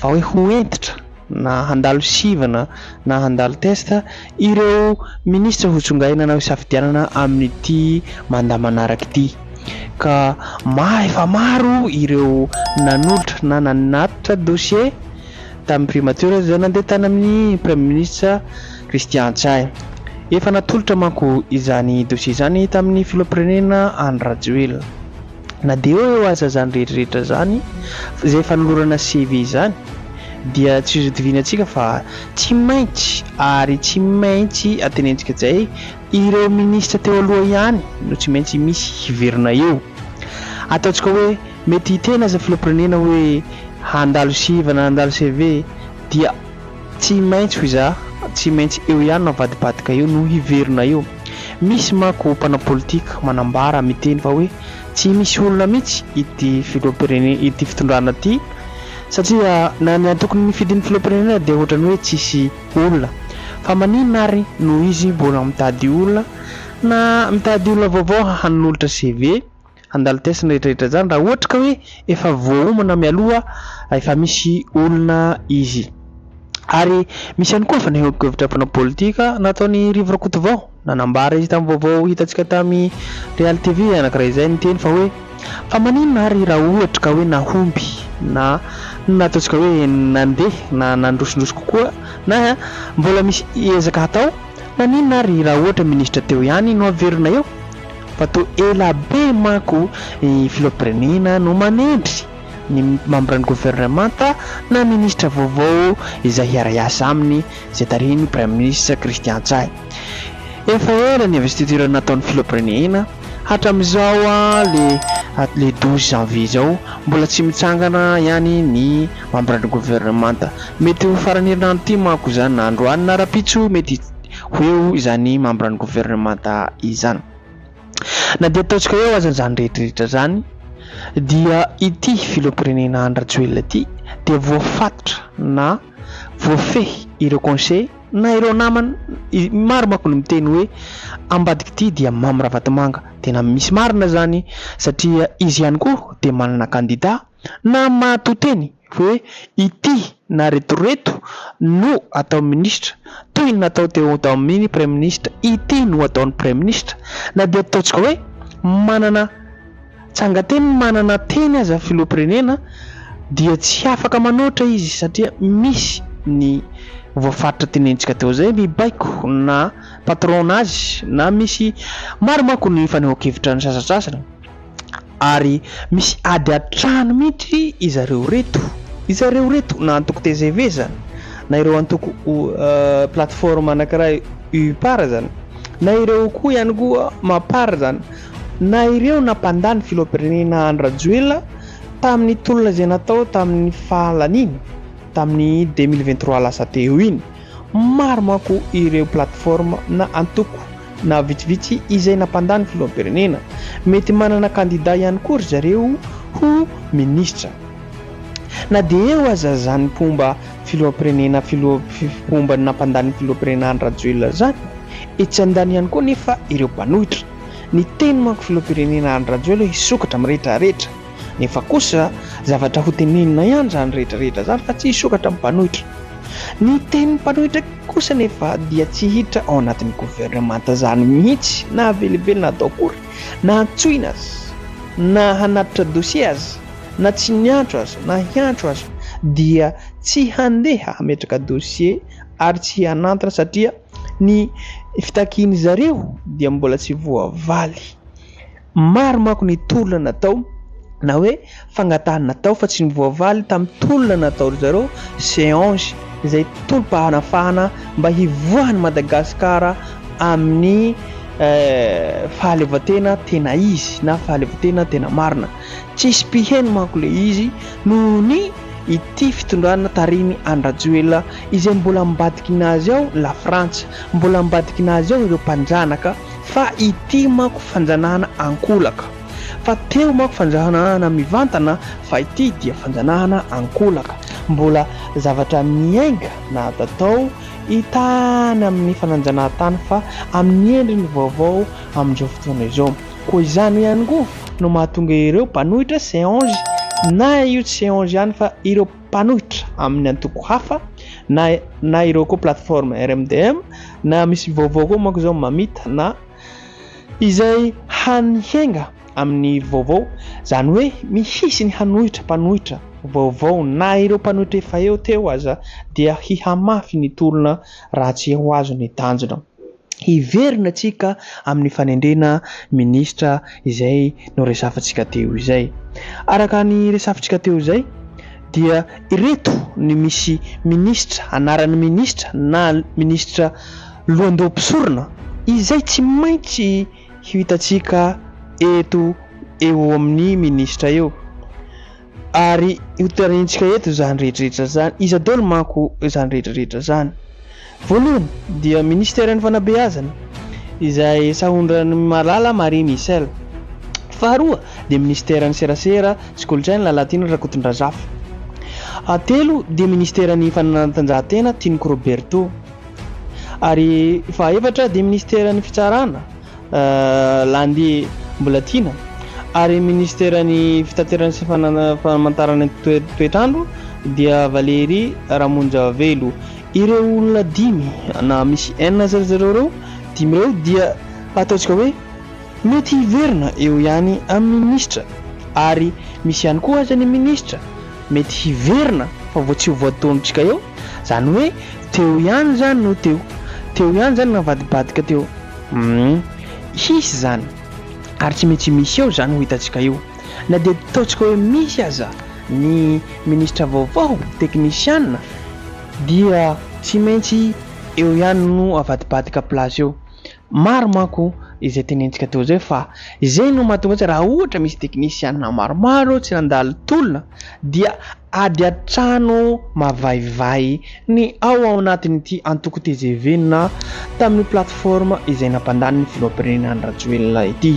vao hoe ho hentitra na handalo sivana na handalo test ireo minisitra ho tsongaina hanao hisafidianana amin'ity mandat manaraka ity ka maro efa maro ireo nanolotra na nanatitra dossier tamin'ny primature izay nandeha tany amin'ny praiminisitra Christian Ntsay. Efa natolotra manko izany dossier izany tamin'ny filoham-pirenena Andry Rajoelina. Na dia eo eo aza izany rehetra rehetra izany, izay fanolorana CV izany, dia tsy hozodivinan-tsika fa tsy maintsy ary tsy maintsy antenenintsika izay ireo minisitra teo aloha ihany no tsy maintsy misy hiverina eo. Ataontsika hoe mety hiteny aza filoham-pirenena hoe handalo siva na handalo CV dia tsy maintsy hoy za tsy maintsy eo ihany no avadibadika eo no hiverina eo. Misy manko mpanao politika manambara miteny fa hoe tsy misy olona mihitsy ity filoham-pirenena ity fitondrana ity satria na ny antoko nifidy ny filoham-pirenena dia ohatran'ny hoe tsisy olona fa maninona ary no izy mbola mitady olona na mitady olona vaovao hanolotra CV Handalo test ny rehetra rehetra zany raha ohatra ka hoe efa voaomana mialoha fa efa misy olona izy. Ary misy ihany koa fanehoan-kevitra mpanao politika nataon'i Rivo Rakotovao. Nanambara izy tamin'ny vaovao hitantsika tamin'i Real TV anankiray izay niteny fa hoe fa maninona ary raha ohatra ka hoe nahomby na nataontsika hoe nandeha na nandrosindroso kokoa na mbola misy ezaka hatao, naninona ary raha ohatra minisitra teo ihany no averina eo? Fa toa ela be manko i filoham-pirenena no manendry ny mambran'ny governemanta na minisitra vaovao izay hiara-hiasa aminy izay tarihin'ny praiminisitra Christian Ntsay. Efa ela ny investiture nataon'ny filoham-pirenena, hatramin'izao le le douze janvier izao mbola tsy mitsangana ihany ny mambran'ny governemanta. Mety ho faran'ny herinandro ity manko izany na androany na rahampitso mety. ho eo izany mambran'ny governemanta izany. Na dia ataontsika eo aza izany rehetrarehetra izany dia ity filoham-pirenena Andry Rajoelina ity dia voafatotra na voafehy ireo conseil na ireo namany maro manko no miteny hoe ambadik'ity dia Mamy Ravatomanga. Tena misy marina izany satria izy ihany koa dia manana kandida na maha-to teny hoe ity na retoreto no atao minisitra, toy ny natao teo tamin'ny praiminisitra, ity no ataon'ny praiminisitra, na dia ataontsika hoe manana tsangan-teny, manana teny aza filoham-pirenena dia tsy afaka manoatra izy satria misy ny voafaritra tenenintsika teo izay mibaiko na patron-nazy na misy maro manko ny fanehoan-kevitra ny sasantsasany. ary misy ady an-trano mihitsy izareo reto, izareo reto na antoko tgv zany na ireo antoko plateforme anakiray UPAR zany na ireo koa ihany koa Mapar zany na ireo na mpandà ny filoham-pirenena Andry Rajoelina tamin'ny tolona izay natao tamin'ny fahalaniny tamin'ny deux mille vingt trois lasa teo iny. Maro manko ireo plateforme na antoko na vitsivitsy izay nampandany filoham-pirenena. Mety manana kandida ihany koa ry zareo ho minisitra. Na dia eo aza zany mpomba filoham-pirenena filoha mpomba nampandany filoham-pirenena Andry Rajoelina zany, etsy andaniny ihany koa nefa ireo mpanohitra. Niteny manko filoham-pirenena Andry Rajoelina hisokatra mirehitra rehetra. Nefa kosa zavatra ho teneninao ihany izany rehetra rehetra izany fa tsy hisokatra amin'ny mpanohitra. Ny tenin'ny mpanohitra kosa nefa dia tsy hiditra ao anatin'ny governemanta izany mihitsy na havelivelina ato akory, na hantsoina aza, na hanatitra dossier aza, na tsy niantso aza, na hiantso aza dia tsy handeha hametraka dossier ary tsy hanantona satria ny fitakian'izareo dia mbola tsy voavaly. Maro manko ny tolona natao na hoe fangatahana natao fa tsy nivoavaly tamin'ny tolona natao ry zareo Seange izay tolom-pahanafahana mba hivoahan'i Madagasikara amin'ny fahaleovantena tena izy na fahaleovantena tena marina. Tsisy mpiheno manko ilay izy noho ny ity fitondrana tarihin'i Andry Rajoelina izay mbola mivadikina azy ao lafrantsa, mbola mivadikina azy ao ireo mpanjanaka. Fa ity manko fanjanahana ankolaka. Fa teo manko fanjanahana mivantana fa ity dia fanjanahana ankolaka. Mbola zavatra miainga na ato tao tany amin'ny fananjanahantany fa amin'ny endriny vaovao amin'izao fotoana izao. Koa izany ihany koa no mahatonga ireo mpanohitra Seange na io tsy Seange ihany fa ireo mpanohitra amin'ny antoko hafa na na ireo koa plateforme RMDM na misy vaovao koa manko izao mamita na izay hany hiainga amin'ny vaovao izany hoe mihisy ny hanohitra mpanohitra vaovao na ireo mpanohitra efa eo teo aza dia hihamafy ny tolona raha tsy ho azo ny tanjona. hiverina tsika amin'ny fanendrena minisitra izay noresafintsika teo izay. Araka ny resafintsika teo izay dia ireto ny misy minisitra anaran'ny minisitra na minisitra lohandoha mpisorona izay tsy maintsy hitantsika eto eo amin'ny minisitra eo. Ary hotarehintsika eto izany rehetrarehetra izany, iza daholo manko izany rehetrarehetra izany? Voalohany dia Ministeran'ny Fanabeazana izay sahondran'i Malala Marie Michel. Faharoa dia Ministeran'ny Serasera sy Kolontsaina Lalatiana Rakotondrazafy. Fahatelo dia Ministeran'ny Fanatanjahantena Tinoko Roberto. Ary fahaefatra dia Ministeran'ny Fitsarana Landy mbola tiana ary ministeran'ny fitaterana sy famantarana toetr'andro dia Valery Ramonjavelo. Ireo olona dimy na misy enina zay ry zareo ireo dimy ireo dia ataontsika hoe mety hiverina eo ihany amin'ny minisitra ary misy ihany koa aza ny minisitra Mety hiverina fa vao tsy ho voataonintsika eo, zany hoe teo ihany zany no teo, teo ihany zany navadibadika teo, humm hisy zany ary tsy maintsy misy eo zany ho hitantsika io na dia ataontsika hoe misy aza ny ministra vaovao, teknisiana dia tsy maintsy eo ihany no avadibadika place eo. Maro manko izay tenentsika teo izay fa izay no mahatonga azy raha ohatra misy teknisianina maromaro tsy nandalo tolona dia ady an-trano mavaivay ny ao ao anatin'ity antoko tgv na tamin'io plateforme izay nampandanin'ny filoham-pirenena Andry Rajoelina ity.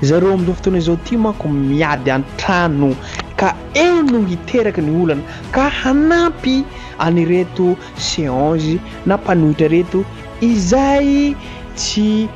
Zareo amin'izao fotoana izao ity manko miady an-trano ka eo no hiteraka ny olana ka hanampy an'ireto Seange na mpanohitra reto izay tsy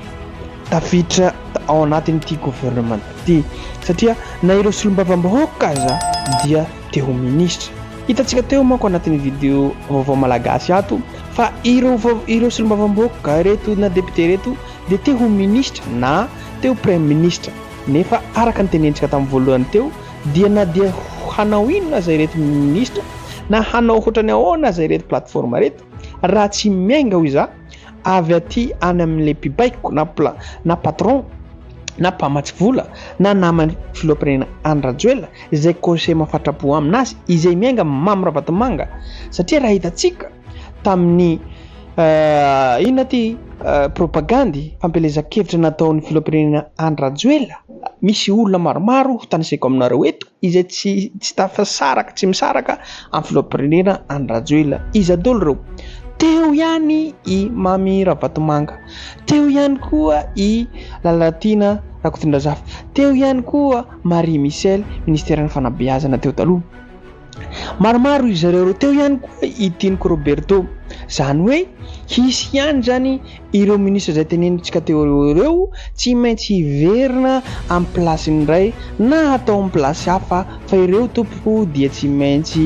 tafiditra ao anatin'ity gouvernement ity satria na ireo solombavambahoaka aza dia te ho ministra. Hitantsika teo manko anatin'ny video vaovao malagasy ato fa ireo ireo solombavambahoaka reto na député reto dia te ho ministra na te ho praiministra nefa araka ny tenentsika tamin'ny voalohany teo Dia na dia hanao inona aza ireto minisitra na hanao hoatrany ahoana aza ireto plateforme ireto raha tsy miainga hoy za avy aty any amin'ilay mpibaiko na pla na patron na mpamatsy vola na naman'ny filoham-pirenena Andry Rajoelina izay conseiller mafatrapo aminazy izay miainga Mamy Ravatomanga satria raha hitantsika tamin'ny inona ty propagandy fampielezan-kevitra nataon'ny filoham-pirenena Andry Rajoelina misy olona maromaro ho tanisaiko aminareo eto izay tsy tsy tafasaraka tsy misaraka amin'ny filohampirenena any Rajoelina iza dolo ireo teo ihany i Mamy Ravatomanga teo ihany koa i Lalatiana Rakotondrazafy teo ihany koa Marie Michel ministeran'ny fanabeazana teo taloha Maromaro izy ireo teo ihany koa i Tiniko Roberto. Izany hoe hisy ihany izany ireo minisitra izay tenenintsika teo aloha ireo tsy maintsy hiverina amin'ny plasiny indray na hatao amin'ny plasy hafa fa ireo tompoko dia tsy maintsy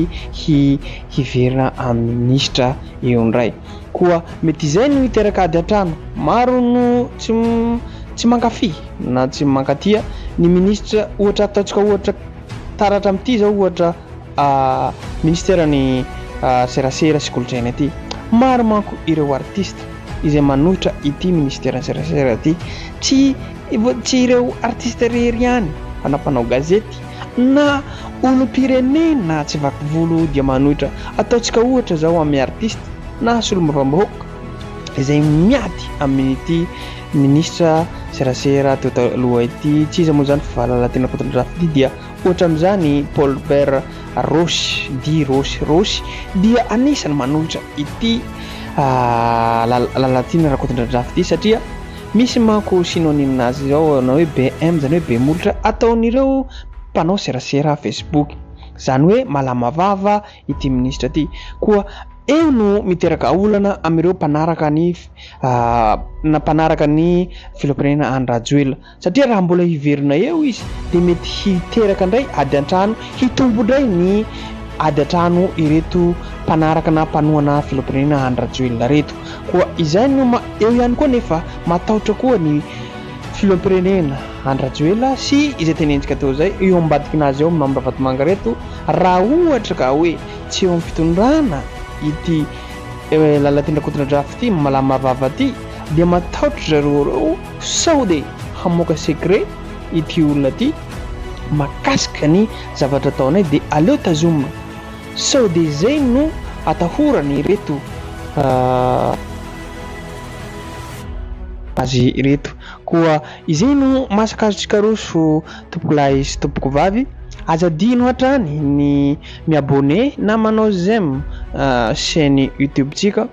hiverina amin'ny minisitra eo indray. Koa mety izay no hiteraka ady an-trano. Maro no tsy mankafy na tsy mankatia ny minisitra ohatra ataontsika ohatra. Taratra amin'ity izao ohatra ministeran'ny serasera sy kolontsaina ity. Maro manko ireo artista izay manohitra ity ministeran'ny serasera ity. Tsy tsy ireo artista irery ihany fa na mpanao gazety na olom-pirenena tsy vaky volo dia manohitra. Ataontsika ohatra izao amin'ny artista na solombavambahoaka izay miady amin'ity minisitra serasera teo taloha ity tsy iza moa izany fa Lalatiana Rakotondrafitia dia ohatra amin'izany Paul Robert Roche di Roche Roche dia anisany manolotra ity ah, Lalatiana Rakotondrafitia satria misy manko synonyme nazy izao na hoe BM izany hoe be molotra ataon'ireo mpanao serasera Facebook izany hoe malama vava ity minisitra ity koa eo no miteraka olana amin'ireo mpanaraka ny na mpanaraka ny filoham-pirenena Andry Rajoelina satria raha mbola hiverina eo izy dia mety hiteraka indray ady an-trano hitombo indray ny ady an-trano ireto mpanaraka na mpanohana filoham-pirenena Andry Rajoelina ireto koa izay no eo ihany koa nefa matahotra koa ny Filoham-pirenena Andry Rajoelina sy izay tenentsika teo izay eo ambadikinazy ao Mamy Ravatomanga ireto raha ohatra ka hoe tsy eo am-pitondrana ity Lalatiana Rakoto Rafy ity malama vava ity dia matahotra zareo ireo sao dia hamoaka secret ity olona ity makasika ny zavatra ataonay dia aleo tazomina sao dia izay no atahorany ireto azy ireto. Koa izay no masaka azontsika roso tompokolahy sy tompokovavy, aza adino hatrany ny mi-abonné na manao j'aime chaîne YouTube-tsika.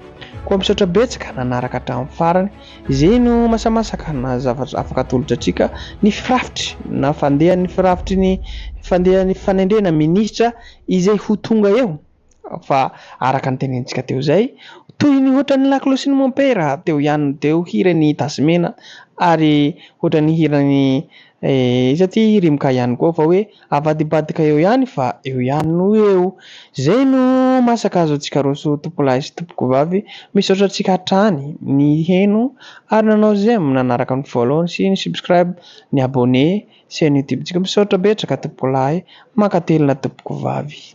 Koa misaotra betsaka nanaraka hatramin'ny farany. Izay no masamasaka na zavatra afaka atolotra antsika ny firafitry na fandehan'ny firafitry ny fandehan'ny fanendrena minisitra izay ho tonga eo. fa araka ny tenenintsika teo izay, toy ny ohatran'ny Laklo sy ny Mompera teo ihany no teo hiran'i Tazomena ary ohatran'ny hiran'i iza ity Rimoka ihany koa fa hoe avadibadika eo ihany fa eo ihany no eo. Izay no masaka azo antsika roso tompolahy sy tompokovavy, misaotra antsika hatrany niheno ary nanao j'aime nanaraka ny voalohany sy ny subscribe, ny abonné, chaîne YouTube-ntsika. Misaotra betraka tompokolahy, mankatelina tompokovavy.